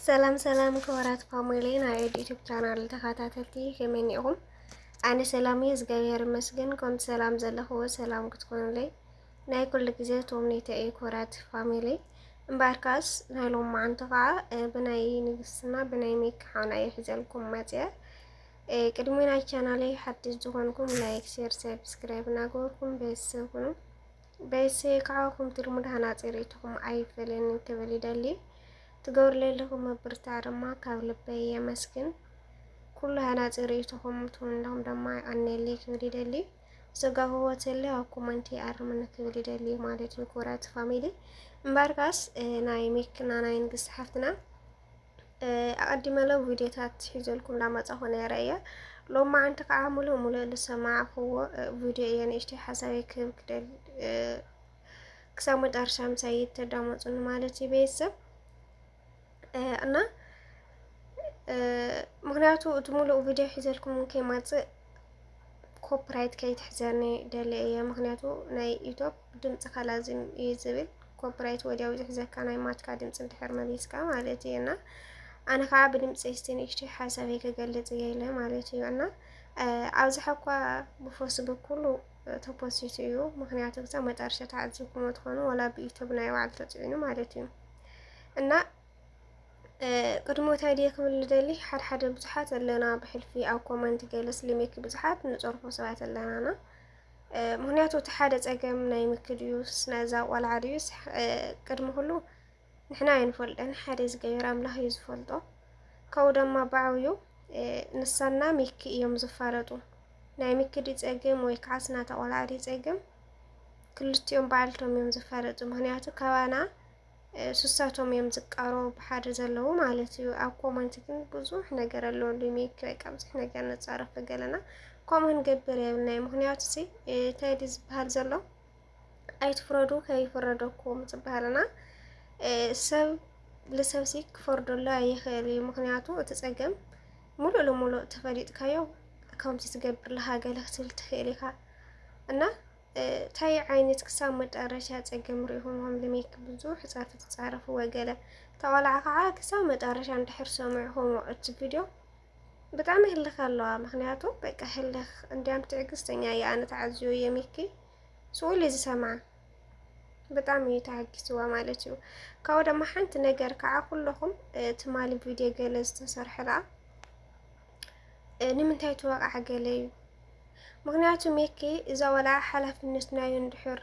ሰላም ሰላም ክቡራት ፋሚሊ ናይ ዩቲዩብ ቻናል ተኸታተልቲ ከመይ እኒኹም? ኣነ ሰላም እየ እግዚኣብሔር ይመስገን። ከምቲ ሰላም ዘለኹዎ ሰላም ክትኮኑለይ ናይ ኩሉ ግዜ ተምኔተ እዩ። ክቡራት ፋሚሊ እምበኣር ከዓስ ናይ ሎም መዓንቶ ከዓ ብናይ ንግስትና ብናይ ሜክ ሓውና እየ ሒዘልኩም መፅአ። ቅድሚ ናይ ቻናለይ ሓድሽ ዝኾንኩም ላይክ፣ ሼር፣ ሰብስክራይብ እናገበርኩም ቤተሰብ ኩኑ። በይሰይ ካዓ ኩምቲ ልሙድ ሃናፂ ሪኢቶኹም ኣይፈለየንን ክብል ይደሊ ትገብርለይ ለኹም ምብርታዕ ደማ ካብ ልበይ የመስግን ኩሉ ሃናፂ ሪኢቶኹም ትውን ለኹም ደማ ይቀንየለይ ክብል ይደሊ ዘጋሁዎ ተለ ኣብ ኮመንቲ ይኣርምኒ ክብል ይደሊ ማለት እዩ ክብራት ፋሚሊ እምበኣርካስ ናይ ሚክና ናይ ንግስቲ ሓፍትና ኣቀዲመ ለ ቪድዮታት ሒዘልኩም እንዳመጻኹ ነይረ እየ ሎም መዓንቲ ከዓ ሙሉእ ሙሉእ ዝሰማዕኽዎ ቪድዮ እየ ንእሽተይ ሓሳበይ ክህብ ክደል ክሳብ መጨረሻ ምሳይ ተዳመፁኒ ማለት እዩ ቤተሰብ እና ምክንያቱ እቲ ሙሉእ ቪድዮ ሒዘልኩም ከይመፅእ ኮፕራይት ከይትሕዘኒ ደልየ እየ ምክንያቱ ናይ ዩቶብ ድምፅካ ላዝም እዩ ዝብል ኮፕራይት ወዲያው ዝሕዘካ ናይ ማትካ ድምፂ እንድሕር መሊስካ ማለት እዩ እና ኣነ ከዓ ብድምፂ ስቲ ንእሽተይ ሓሳበይ ክገልፅ እየ ኢለ ማለት እዩ እና ኣብዝሓ እኳ ብፌስቡክ ኩሉ ተፖሲቱ እዩ ምክንያቱ ክሳብ መጨረሻ ተዓዚብኩሞ ትኾኑ ወላ ብዩቶብ ናይ ባዕሉ ተፅዒኑ ማለት እዩ እና ቅድሞት ኣይድየ ክብል ልደሊ ሓደ ሓደ ብዙሓት ኣለና ብሕልፊ ኣብ ኮመንት ገለ ስሊሜክ ብዙሓት ንፀርፎ ሰባት ኣለናና ምክንያቱ እቲ ሓደ ፀገም ናይ ምክ ድዩስ ናይዛ ቆልዓ ድዩስ ቅድሚ ኩሉ ንሕና ኣይንፈልጠን ሓደ ዝገበር ኣምላኽ እዩ ዝፈልጦ ከው ደማ ባዕብዩ ንሳና ሚኪ እዮም ዝፋለጡ ናይ ሚኪ ድዩ ፀገም ወይ ከዓ ስናታ ቆልዓ ድዩ ፀገም ክልቲኦም ባዕልቶም እዮም ዝፋለጡ ምክንያቱ ካባና ስሳቶም እዮም ዝቃረቡ ብሓደ ዘለዉ ማለት እዩ ኣብ ኮመንት ግን ብዙሕ ነገር ኣሎ እንዲ ሜክ በቃ ብዙሕ ነገር ንፃረፍ ገለና ከምኡ ንገብር የብልናይ ምክንያቱ ሲ እንታይ ድዩ ዝበሃል ዘሎ ኣይትፍረዱ ከይፍረደኩም ዝበሃልና ሰብ ልሰብ ሲ ክፈርደሉ ኣይኽእል እዩ ምክንያቱ እቲ ፀገም ሙሉእ ልሙሉእ ተፈሊጥካዮ ከምዚ ትገብር ለሃገለ ክትብል ትኽእል ኢኻ እና ታይ ዓይነት ክሳብ መጣረሻ ፀገም ሪኢኹም ኸም ልሜክ ብዙሕ ፃፊ ትፃረፉ ወገለ ተቆልዓ ከዓ ክሳብ መጣረሻ እንድሕር ሰሚዕኹሞ እቲ ቪድዮ ብጣዕሚ ህልኽ ኣለዋ ምክንያቱ በቃ ህልኽ እንዲያም ትዕግስተኛ እያ ኣነ ተዓዝዮ እየ ሚኪ ስኡል ዝሰምዓ ብጣዕሚ እዩ ተሓጊስዋ ማለት እዩ ካብኡ ድማ ሓንቲ ነገር ከዓ ኩለኹም ትማሊ ቪድዮ ገለ ዝተሰርሐ ለኣ ንምንታይ ትወቕዓ ገለ እዩ ምክንያቱ ሜኪ እዛ ወልዓ ሓላፍነት ናዩ እንድሕር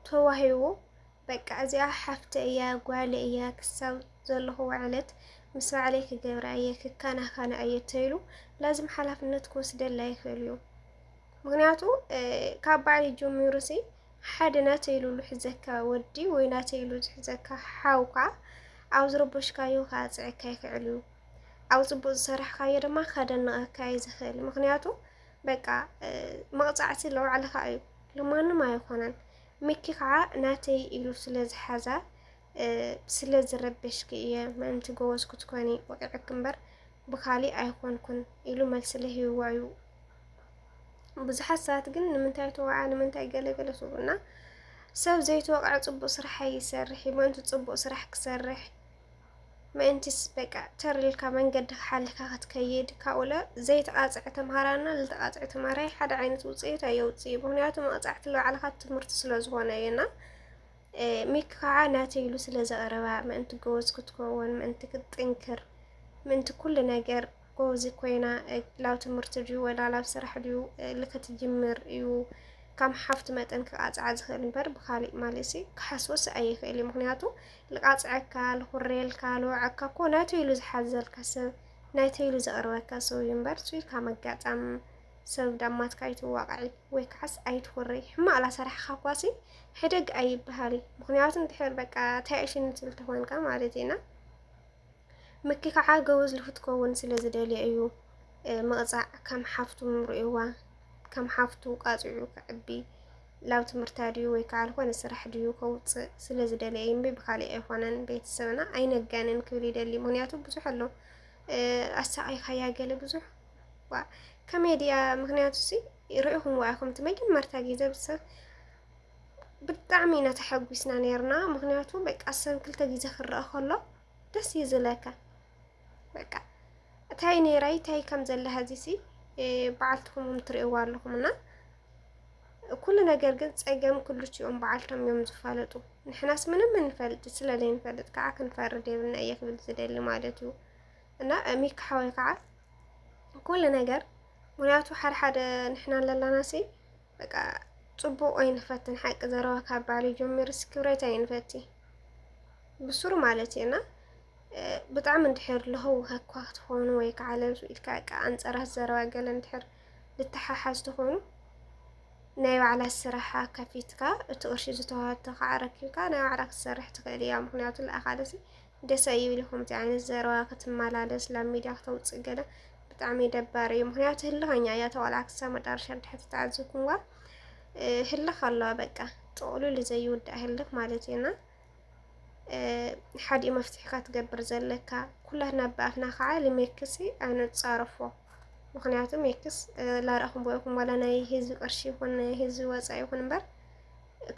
ተዋሂቡ በቃ እዚኣ ሓፍተ እያ ጓለ እያ ክሳብ ዘለኹ ዕለት ምስ ባዕለይ ክገብራ እየ ክከናኸና እየ ተይሉ ላዝም ሓላፍነት ክወስደላ ይኽእል እዩ ምክንያቱ ካብ ባዕሊ ጀሚሩ ሲ ሓደ ናተይ ኢሉ ዝሕዘካ ወዲ ወይ ናተይ ኢሉ ዝሕዘካ ሓውካ ኣብ ዝረበሽካዮ ክኣፅዐካ ይኽእል እዩ ኣብ ፅቡቅ ዝሰራሕካዮ ድማ ከደንቀካ እዩ ዝኽእል ምክንያቱ በቃ መቕፃዕቲ ለባዕልኻ እዩ ልማንም ኣይኾነን ሚኪ ከዓ ናተይ ኢሉ ስለ ዝሓዛ ስለ ዝረበሽኪ እየ ምእንቲ ጎበዝ ክትኮኒ ወቂዕኪ እምበር ብካሊእ ኣይኮንኩን ኢሉ መልሲ ለሂብዋ እዩ። ብዙሓት ሰባት ግን ንምንታይ ተወዓ ንምንታይ ገለገለ ስብሉና ሰብ ዘይተወቅዐ ፅቡቅ ስራሕ ኣይሰርሕ እዩ። ምእንቲ ፅቡቅ ስራሕ ክሰርሕ ምእንቲስ በቃ ተር ኢልካ መንገድካ ሓሊካ ክትከይድ ካብኡለ ዘይተቃጽዐ ተምሃራይና ዝተቃጽዐ ተምሃራይ ሓደ ዓይነት ውጽኢት ኣየውጽእ ምክንያቱ መቅጻዕቲ ልባዕልካ ትምህርቲ ስለ ዝኾነ እዩና ሚክ ከዓ ናተይ ኢሉ ስለ ዘቕረባ ምእንቲ ጎበዝ ክትከውን ምእንቲ ክትጥንክር ምእንቲ ኩሉ ነገር ጎበዝ ኮይና ላብ ትምህርቲ ድዩ ወላ ላብ ስራሕ ድዩ ልክትጅምር እዩ ካም ሓፍቲ መጠን ክቃፅዓ ዝኽእል እምበር ብካሊእ ማለሲ ክሓስቦስ ኣይኽእል እዩ ምክንያቱ ልቃፅዐካ ልኩሬልካ ልወዐካ እኮ ናተይ ኢሉ ዝሓዘልካ ሰብ ናተይ ኢሉ ዘቅርበካ ሰው እዩ እምበር እሱ ኢልካ መጋጣም ሰብ ዳማትካ ኣይትዋቅዒ ወይ ከዓስ ኣይትኩሪ ሕማቅ ላሰራሕካ ኳሲ ሕደግ ኣይበሃል ምክንያቱ እንድሕር በቃ ተያእሽኒ ትብል ተኮንካ ማለት ኢና ምኪ ከዓ ገወዝ ልክትከውን ስለ ዝደልየ እዩ ምቕፃዕ ከም ሓፍቱ ምርእዋ ከም ሓፍቱ ቃፂዑ ክዕቢ ላብ ትምህርታ ድዩ ወይ ከዓ ልኾነ ስራሕ ድዩ ከውፅእ ስለ ዝደልየ እዩ እምቢ ብካሊእ ኣይኮነን ቤተሰብና ኣይነጋንን ክብል ይደሊ ምክንያቱ ብዙሕ ኣሎ ኣሳቂካያ ገለ ብዙሕ ዋ ከመይ ድያ ምክንያቱ ሲ ርኢኹምዋ ኢኹም እቲ መጀመርታ ግዜ ሰብ ብጣዕሚ ኢና ተሐጒስና ነርና ምክንያቱ በቃ ሰብ ክልተ ግዜ ክረአ ከሎ ደስ እዩ ዝለካ በቃ እታይ ነይራይ እታይ ከም ዘለ ሀዚሲ በዓልትኹም ትርእይዋ ኣለኹም እና ኩሉ ነገር ግን ፀገም ክልቲኦም በዓልቶም እዮም ዝፋለጡ ንሕናስ ምንም እንፈልጥ ስለ ዘይንፈልጥ ከዓ ክንፈርድ የብልና እየ ክብል ዝደሊ ማለት እዩ እና ሚካ ሓወይ ከዓ ኩሉ ነገር ምክንያቱ ሓደሓደ ንሕና ኣለላናሲ በቃ ጽቡቅ ኣይንፈትን ሓቂ ዘረባ ካብ ባልዩ ጀሚሩ ስክብሬት ኣይንፈቲ ብሱሩ ማለት እየና ብጣዕሚ እንድሕር ለህውኸ እኳ ክትኾኑ ወይ ከዓ ለብሱ ኢልካ ቃ ኣንፀራት ዘረባ ገለ እንድሕር ልተሓሓዝ ትኾኑ ናይ ባዕላ ስራሓ ከፊትካ እቲ ቅርሺ ዝተዋሃተ ከዓ ረኪብካ ናይ ባዕላ ክትሰርሕ ትኽእል እያ። ምክንያቱ ለኣኻለሲ ደስ ኣይብል ከምዚ ዓይነት ዘረባ ክትመላለስ ላብ ሚድያ ክተውፅእ ገለ ብጣዕሚ ደባሪ እዩ። ምክንያቱ ህልኸኛ እያ ተዋላ ክሳብ መጨረሻ ድሕር ተተዓዘብኩምዋ ህልኽ ኣለዋ በቃ ጥቕሉል ዘይውዳእ ህልኽ ማለት እዩና ሓዲኡ መፍትሒ ከትገብር ዘለካ ኩላትና ብኣፍና ከዓ ልሜክሲ ኣይንፃረፎ ምክንያቱ ሜክስ ላረእኹም ቦይኹም ዋላ ናይ ህዝቢ ቅርሺ ይኹን ህዝቢ ወፃኢ ይኹን እምበር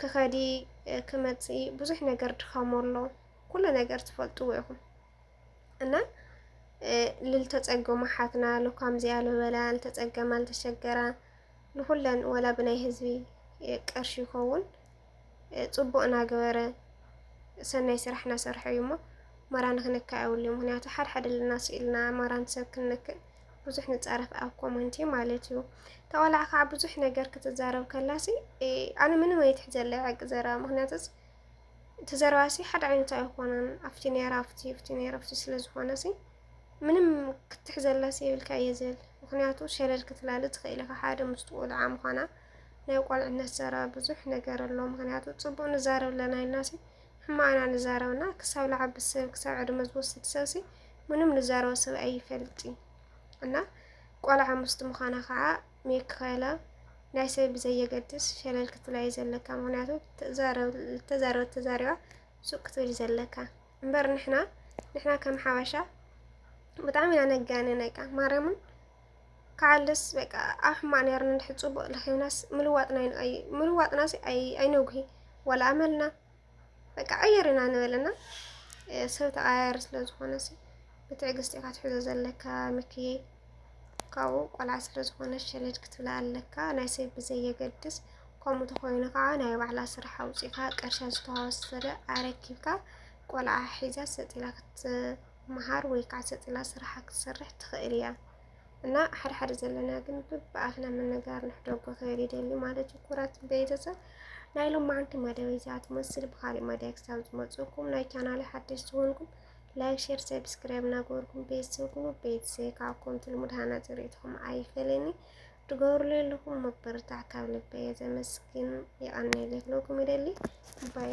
ክኸዲ ክመፅኢ ብዙሕ ነገር ድኻሞ ኣሎ ኩሉ ነገር ትፈልጥዎ ኢኹም እና ልልተፀገሙ ሓትና ሎካምዚኣ ልበላ ልተፀገማ ልተሸገራ ንኹለን ወላ ብናይ ህዝቢ ቀርሺ ይኸውን ፅቡቅ እናገበረ ሰናይ ስራሕ እናሰርሐ እዩ እሞ መራ ንክንካእ የብሉ ምክንያቱ ሓደ ሓደ ልና ስኢልና መራን ሰብ ክንክእ ብዙሕ ንፃረፍ ኣብ ኮመንቲ ማለት እዩ ተቆላዕ ከዓ ብዙሕ ነገር ክትዛረብ ከላሲ ኣነ ምንም ኣይትሕዘለይ ዕቂ ዘረባ ምክንያቱስ እቲ ዘረባሲ ሓደ ዓይነት ኣይኾነን ኣብቲ ነራ ኣብቲ ኣብቲ ነራ ኣብቲ ስለ ዝኾነሲ ምንም ክትሕዘላሲ የብልካ እየ ዝብል ምክንያቱ ሸለል ክትላሊ ትኽእል ኢኻ ሓደ ምስቲ ቆልዓ ምዃና ናይ ቆልዕነት ዘረባ ብዙሕ ነገር ኣሎ ምክንያቱ ፅቡቅ ንዛረብ ኣለና ኢልናሲ ሕማቅና ንዛረብና ክሳብ ልዓቢ ሰብ ክሳብ ዕድመ ዝወስድ ሰብሲ ምንም ንዛረቦ ሰብ ኣይፈልጥን እና ቆልዓ ምስቲ ምዃና ከዓ ሚካኤላ ናይ ሰብ ብዘየገድስ ሸለል ክትብላ እዩ ዘለካ ምክንያቱ ዝተዛረበት ተዛሪባ ሱቅ ክትብል እዩ ዘለካ እምበር ንሕና ንሕና ከም ሓበሻ ብጣዕሚ ኢና ነጋንነ በቃ ማርያምን ከዓልስ በቃ ኣብ ሕማቅ ነርና እንድሕር ፅቡቅ ረኪብናስ ምልዋጥና ይንኣዩ ምልዋጥናስ ኣይነጉሂ ዋላ ኣመልና በቃ ቀይር ኢና ንበልና ሰብ ተቀያያሪ ስለ ዝኾነ ሲ ብትዕግስቲ ኢኻ ትሕዞ ዘለካ ምክየ ካብኡ ቆልዓ ስለ ዝኾነ ሸለድ ክትብላ ኣለካ ናይ ሰብ ብዘየገድስ ከምኡ ተኾይኑ ከዓ ናይ ባዕላ ስራሕ ኣውፂእካ ቀርሻ ዝተዋሰለ ኣረኪብካ ቆልዓ ሒዛ ሰጢላ ክትመሃር ወይ ከዓ ሰጢላ ስራሓ ክትሰርሕ ትኽእል እያ። እና ሓድሓድ ዘለና ግን ብኣፍና ምንጋር ንሕደጎ ክብል ይደሊ ማለት እዩ። ኩራት ቤተሰብ ናይ ሎማዓንቲ መደብ እዛ ትመስል ብካሊእ መደብ ክሳብ ዝመፅእኩም ናይ ቻናል ሓደሽ ዝኮንኩም ላይክ፣ ሼር፣ ሰብስክራይብ እናገበርኩም ቤተሰብ ኩኑ። ቤተሰብ ካብ ኮምቲ ልሙድ ሃናፂ ርእይትኹም ኣይፈለኒ ትገብሩሉ ኣለኹም መበረታዕ ካብ ልበየ ዘመስግን የቀኒለይ ክለኩም ይደሊ ባይ